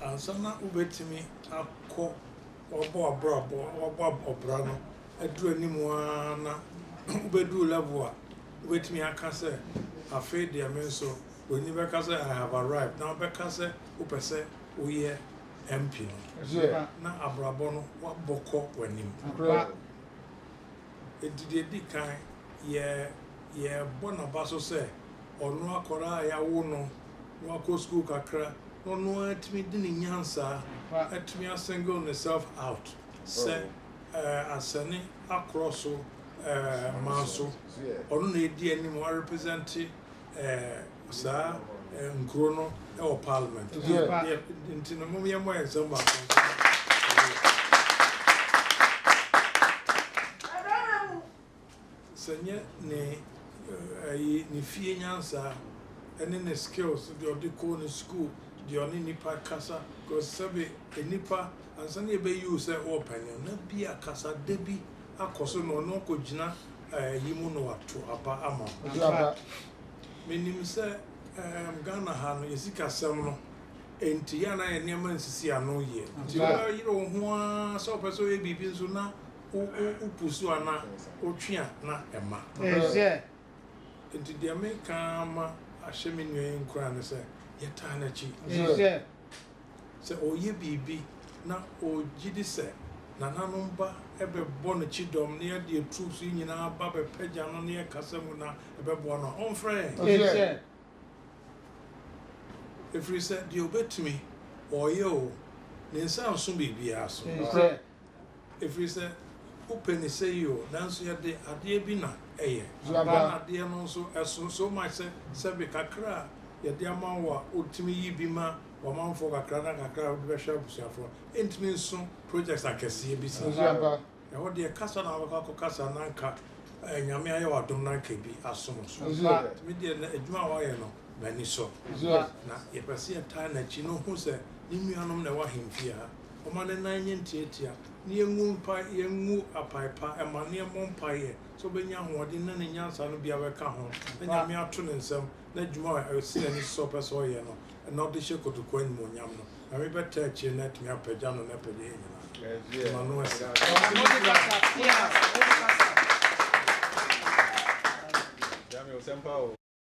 Ansa na wobɛtumi akɔ wabɔ abrabɔ wabɔ ɔbra no aduru anim ara na wobɛduru level a wobɛtumi aka sɛ afei deɛ me nso broni bɛka sɛ I have arrived na wobɛka sɛ wopɛ sɛ woyɛ MP no na abrabɔ no wabɔ kɔ w'anim. enti deɛ ɛdi kan, yɛ yɛbɔ n'aba so sɛ ɔno akwadaa a yɛawo no na wakɔ sukuu kakra na ɔno ara atumi de ne nyansaa atumi a single ne self out sɛ asɛne akorɔ so manso ɔno na ɛdi anim a represent saa nkuro no wɔ parliament nti no mom yɛmmɔ yɛn nsɛm baako sɛ nyɛ ne ayi ne fie nyansa ɛne ne skills deɛ ɔde kɔɔ ne school deɛ ɔne nipa kasa because sɛbe nipa ansa ne yɛbɛyi wo sɛ ɔɔpɛne na bi akasa da bi akɔ so na ɔno akɔgyina ayi mu na wato aba ama wo. Ɔde aba. Menim sɛ ɛɛm Ghana ha no yɛ sikasɛm no nti yɛ a na yɛ nneɛma nsisi ano yie nti Ampa. wobɛyere wo ho ara sɛ wopɛ sɛ woyɛ biribi nso na wo wo wo pusu anaa wotwe a na ɛmma. Ɛyɛ. Nti deɛ meka ara ma ahyɛ me nua yi nkuran ne sɛ yɛtaa no akyi. Ɛyɛ. sɛ ɔreyɛ biribi na ɔregye di sɛ nananom ba bɛbɔ no kyidɔm na yɛde yɛn troops yi nyinaa ba bɛpagya no ne yɛn kasa mu na ɛbɛboa no a, ɔmfrɛ yɛn. Ɛfiri sɛ deɛ ɔbɛtumi, ɔreyɛ o, ne nsa renso biribiara so. Ɛfiri sɛ wopɛ ne sɛ yi o, nanso yɛ de adeɛ bi na ɛyɛ. Aba na adeɛ no nso ɛso so much sɛ sɛbe kakra a yɛ de ama wo a wotumi yi bi ma w'amanfoɔ kakra na kakra a wode bɛhwɛ abusuafoɔ no ɛntumi nso projects akɛseɛ bi saa. Ɛhɔ deɛ kasa na wobɛkɔ akɔ kasa na anka Nyame ayɛ wo adom na anka ɛbi asom wo so. Nti me deɛ nnɛ adwuma a woayɛ no m'ani sɔ. Na yɛpɛ sɛ yɛtaa n'akyi na ɔhu sɛ ne nuanom na ɛwɔ ahemfie ha. ɔma ne nan nyɛ ntiatia, na yengu mpa, yengu apae pa, ɛma na yɛmmɔ mpaeɛ sɛ ɔbɛnya ahoɔden na ne nyansa no bi abɛka ho, na Nyame ato ne nsam, na adwuma a ɛsi n'ani so sɛ ɔpɛ sɛ ɔyɛ no, ɛna ɔde hyɛ kotokuo animuonyam no, Nyame bɛtaa akyire na atumi apagya no na apagya yɛn nyinaa. Yɛma no ase.